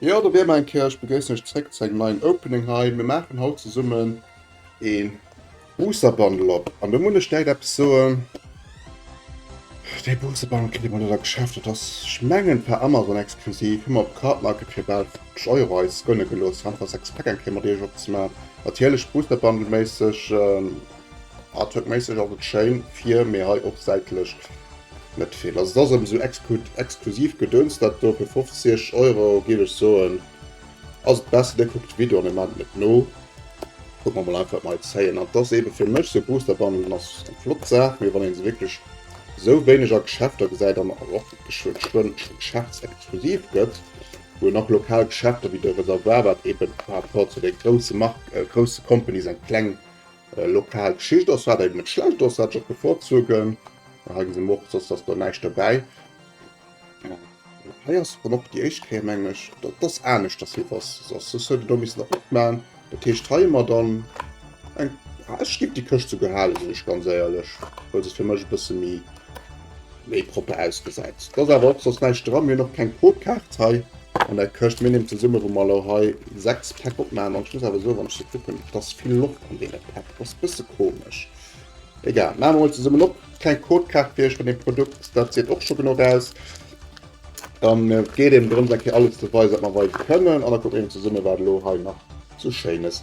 Jo, do wier mer eng Kéier. Ech begréissen iech zréck zu engem neien Opening hei. Mir maachen haut zesummen ee Booster Bundle op an do muss ech direkt eppes soen, dee Booster Bundle kritt ee bei net am Geschäft. Dat ass, ech mengen, per Amazon exklusiv. Hu mer op Cardmarket fir bal 50 Euro eis gënne gelooss, einfach 6 Pack eng Kéier mat iech opzemaachen. Natierlech Booster Bundle méisseg Artworkméisseg ass et schéin fier, mee hei och säitlech net vill. Also et ass erem sou exklusiv Gedöns dat do. Fir 50 Euro giff ech soen ass et besser dir kuckt de Video an dir mellt mech no. Kucken mer mol einfach wat mer hei zéien. An et ass eben fir mech sou Booster Bundelen ass eng flott Saach, mee wann een se wierklech sou wéineg a Geschäfter gesäit an och geschwënn geschäftsexklusiv gëtt, wou een och lokal Geschäfter wéi de Reservoir, wat eben par rapport zu de grousse Marken, grousse Companies eng kleng Lokal Geschicht ass wat eben net schlecht ass, wat ech och bevorzugen. Hei gesi mer och, dass do näischt dobäi. Hei ass dann och déi éischt Kéier mengen ech, dat ass anescht, dass hie was ass. Soss huet en do missen eropman. Dat heescht hei hu mer dann eng, ah ech géif déi Këscht souguer halen, sinn ech ganz éierlech, well se fir mech e bësse méi méi propper ausgesäit. Et ass awer och soss näischt dran. Mir hunn och keng Pro-Kaart hei an der Këscht. Mir nehmen zesumme, wou mer elo hei 6 Päck opmaachen, an ech muss awer soen, wann ech se kucken, et ass vill Loft an deene Päck. Et ass e bësse komesch. Egal, maache mer emol zesummen op. Keng Codekaart fir iech vun deem Produkt, dat seet och scho genuch aus. Dann geet et drëms, eng Kéier alles ze weisen, wat mer weise kënnen, an da kucke mir eben zesumme, wat elo hei nach sou Schéines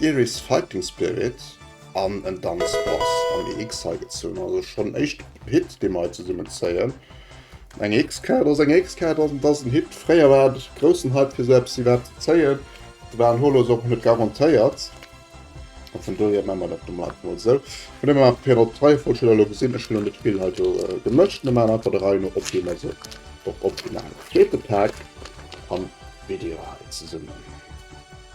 Iris Fighting Spirit an en Danz Bass am EX heigezunn. Also schonn en éischte Hit dee mer hei zesummen zéien. Eng EX-Kaart ass eng EX-Kaart ass et ass en Hit. Fréier war et e groussen Hype fir esou eppes iwwerhaapt ze zéien. De war an Holo ass och net garantéiert. A vun dohier maache mer dat elo mol einfach esou. Vun deem her fir op d'Reiefolg huet der elo gesinn. Ech hunn elo net vill hei do gemëscht. Mir maachen einfach der Rei no op wéi mer se och opgeman hunn. Zweete Pak an Video hei zesummen.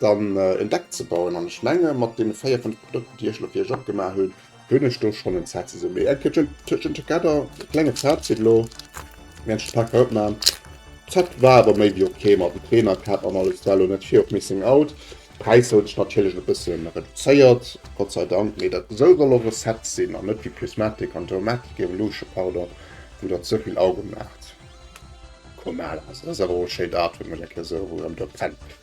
dann en Deck ze bauen an ech menge mat den 4, 5 Produkten déi ech lo fir iech opgemaach hunn, hunn ech do schonn en Set zesummen. Mee eng Kéier Kitchen Together, klengen Set zitt lo mee eng Pack haut maan. Set war awer méi wéi ok mat dem Trainercap an alles, war lo net vir op Missing Out. Präisser hunn sech natierlech e bëssen reduzéiert, Gott sei Dank, mee dat esou soll och e Set sinn an net wéi Prismatic an Domatic, Evolution, pardon, wou der ze vill Auge maacht. Komm Al, ass ass awer och e schéint Artwork, mech eng Kéier esou erëm do pennt.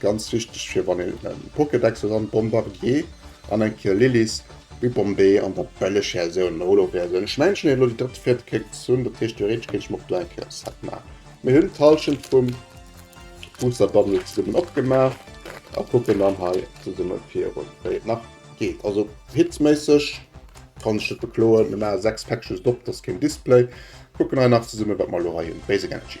Ganz wichteg fir wann een en Pokédex huet an Bombardier an eng Kill Lilies, Rue Bombay an der Bellechaine sou en Holo wär sou. Ech mengen elo déi drëtt, viert Kéck ze hunn, dat heescht theoretesch kéint ech mer och do eng Kéier e Set maachen. Mir hunn d'Hallschent vum Booster Bundle zesummen opgemaach a kucken dann hei zesummen virun wéi et nach geet. Also Hitsméisseg kann ech net bekloen, mir maache 6 Pack just op, dat ass keen Display, kucken hei nach zesummen wat mer elo hei hunn. Basic Energy.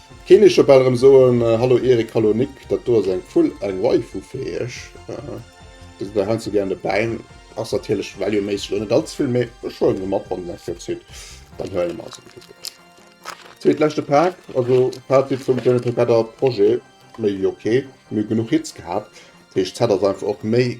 Keen ech jo bal erem soen, Hallo Erik, Hallo Nick, dat do ass eng Vull, eng Waifu fir iech. Dir sidd hei zu Gären dobäi, ass natierlech Value méisseg och net all ze vill, mee ech huelen se mat, wann eng Fierz hutt, dann huelen mer se. Zweet leschte Pak, also Fazit vum Journey Together Projet, méi wéi ok, mir hu genuch Hits gehat, dat heescht d'Zäit ass einfach och méi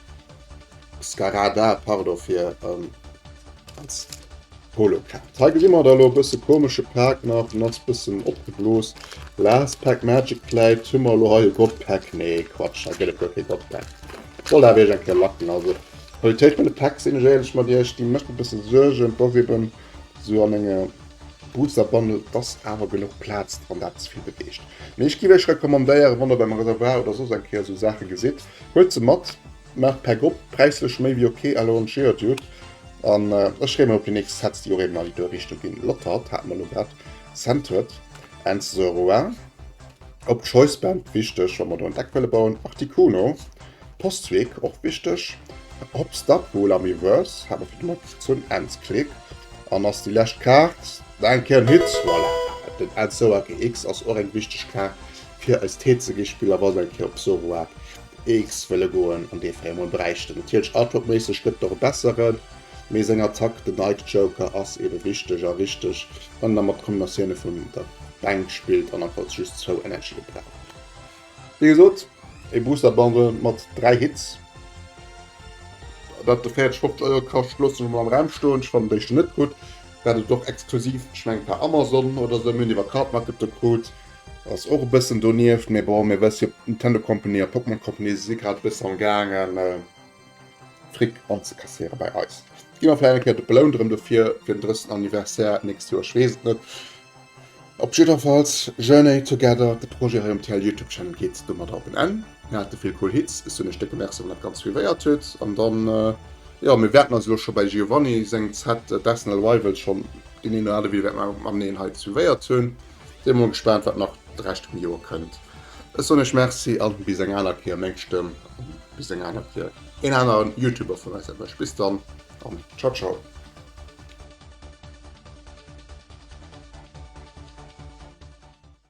Skarada, pardon fir ähm, als Polokaart. Hei gesinn mer da lo e bësse komesche Pack nach, den ass bëssen opgeblos. Last Pack Magic Plate, hu mer lo hei e God Pack, nee Quatsch, hei gëtt et guer kee God Pack. Wollt awer iech eng Kéier lacken, also Qualitéit vun de Packs sinn ech éierlech mat iech, déi mécht e bësse Suergen, dass eben so an enge Booster Bundle, dass awer genuch Plaz dran, dat ze vill beweegt. Mee ech giff iech recommandéieren, wann der beim Reservoir oder soss eng Kéier sou Saache gesitt, Huet se mat, maacht per Grupp präislech méi wéi ok, alors en cheer dude. An ech freeë mer op déi nächst Sets, déi och eben an déi duer Richtung ginn. Lotard hate mer elo grad, Centred, Ends the Rouen. Op Choice Band, wichteg wa mer do en Deck wëlle bauen, Articuno, Postweg, och wichteg. Hop Stop, Wool Ami Verse, hate mer fir de Moment gezunn, Ends Click. An ass déi lescht Kaart, Danke, en Hit, voilà. Den Ends Soa GX ass och eng wichteg Kaart. fir eis Tee ze gi, Spiller wollt eng Kéier op Soruag Eechs wëlle goen an dee Véiermol bräichten. Natierlech artworkméisseg gëtt et och e besseren, mee seng Attack, den Night Joker, ass ebe wichteg a richteg, wann een da mat Kombinatioune vun der Bänk spillt an andfalls just zwou Energie brauch. Wéi gesot, ee Booster Bundle mat 3 Hits, dat de 40, 50 Euro kascht, loosse mer mol am Raum stoen. Ech fannen déi scho net gutt, dat et och exklusiv, ech mengen per Amazon oder esou, mir hunn iwwer Cardmarket de krut, Ass och e bëssen donieft, mee bon, mir wësse jo, d'Nintendo Company a d'Pokémon Company si grad e bësse am gaangen Fric anzekasséiere bei eis. Gi mer vläicht eng Kéier de belount erëm dofir fir den 30. Anniversaire d'nächst Joer, ech weess et net. Op jiddwerfalls, Journey Together, de Projet hei um TL Youtube Channel geet domadder op en Enn. Mir hate vill cool Hits, ech soen iech décke Merci wann dat Ganzt suivéiert huet an dann, jo, mir wäerten eis elo scho bei Giovanni sengem Set d'Arsenal Rivals schonn deen een oder anere Video wäerte mateneen hei suivéiert hunn. Sin emol gespaant wat nach d'Recht vum Joer kënnt. Ech soen iech Merci an bis eng aner Kéier, meng Stëmm an bis eng aner Kéier een aneren Youtuber vun eis erwëscht. Bis dann an ciao ciao.